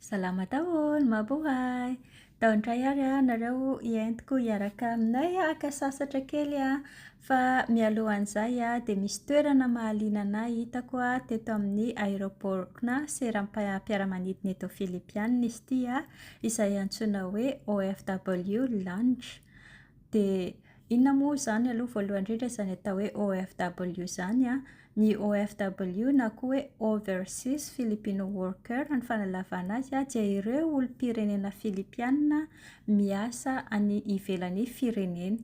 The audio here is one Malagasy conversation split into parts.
Salama daholo, mabohay! Tao indray ary aho nareo hientiko hiaraka aminay haka sasatra kely an! Fa mialohan'izay an, dia misy toerana mahaliana an'ahy hitako teto amin'ny aéroport-na seram-piaramanidina eto Philippy any izy ity an, izay antsoina hoe OFW Lounge. Dia Inona moa izany aloha voalohany indrindra izany atao hoe OFW izany an? Ny OFW na koa hoe Overseas Filipino Worker ny fanalavana azy an, dia ireo olom-pirenena Filipiana miasa any ivelan'ny fireneny.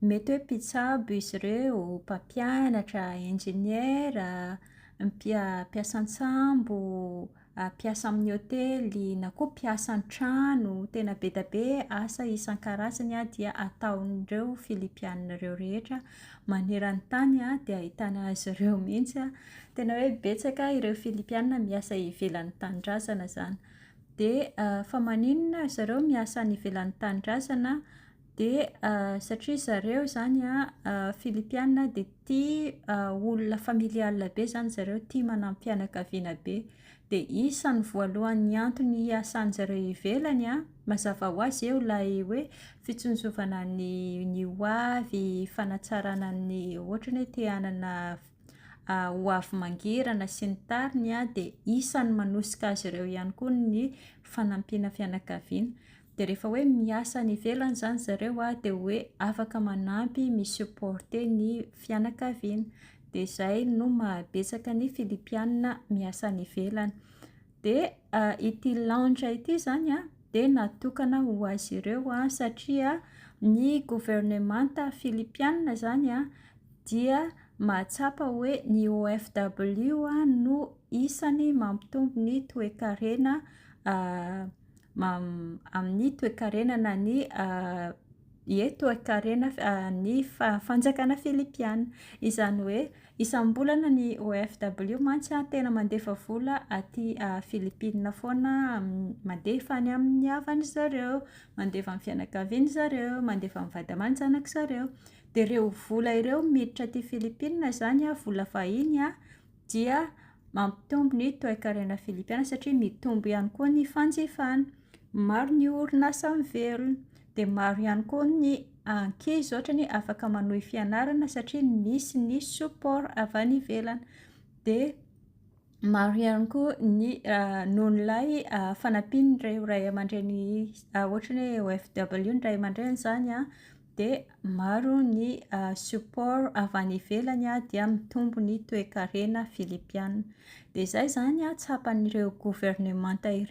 Mety hoe mpitsabo izy ireo, mpampianatra, injeniera, mpia- mpiasa an-tsambo, mpiasa amin'ny hotely na koa mpiasa an-trano, tena be dia be asa isan-karazany dia ataon'ireo Filipiana ireo rehetra maneran-tany dia ahitana azy ireo mihitsy. Tena hoe betsaka ireo Filipiana miasa ivelan'ny tanindrazana izany. Dia fa maninona ry zareo miasa any ivelan'ny tanindrazana? Dia satria zareo izany Filipiana dia tia olona familial be izany zareo, tia manam-pianakaviana be. Dia isan'ny voalohan'ny antony hiasan'ny zareo ivelany an, mazava ho azy eo ilay hoe fitsinjovana ny ny ho avy, fanatsarana ny ohatra te hanana ho avy mangirana sy ny tariny an, dia isan'ny manosika azy ireo ihany koa ny fanampiana fianakaviana. Dia rehefa hoe miasa any ivelany izany zareo a, dia hoe afaka manampy, mi-supporter ny fianakaviana. Dia izay no mahabetsaka ny Filipiana miasa any ivelany. Dia ity lounge ity izany a, dia natokana ho azy ireo a, satria ny governemanta Filipiana izany a, dia mahatsapa hoe ny OFW no isan'ny mampitombo ny toe-karena amin'ny toekarena na ny ie toekarena ny fanjakana filipiana. Izany hoe isam-bolana ny OFW mantsy tena mandefa vola aty Filipina foana, mandefa any amin'ny havany ry zareo, mandefa amin'ny fianakaviany ry zareo, mandefa amin'ny vady aman-janak'izy zareo. Dia ireo vola ireo miditra aty Filipina izany, vola vahiny an, dia mampitombo ny toekarena filipiana satria mitombo ihany koa ny fanjifana. Maro ny orinasa miverina. Dia maro ihany koa ny ankizy ohatrany hoe afaka manohy fianarana satria misy ny support avy any ivelany. Dia maro ihany koa ny noho ilay fanampian'ireo ray aman-dreny ohatran'ny hoe OFW ny ray aman-dreny izany an. dia maro ny support avy any ivelany dia mitombo ny toekarena filipiana. Dia izay izany tsapan'ireo governemanta ireo.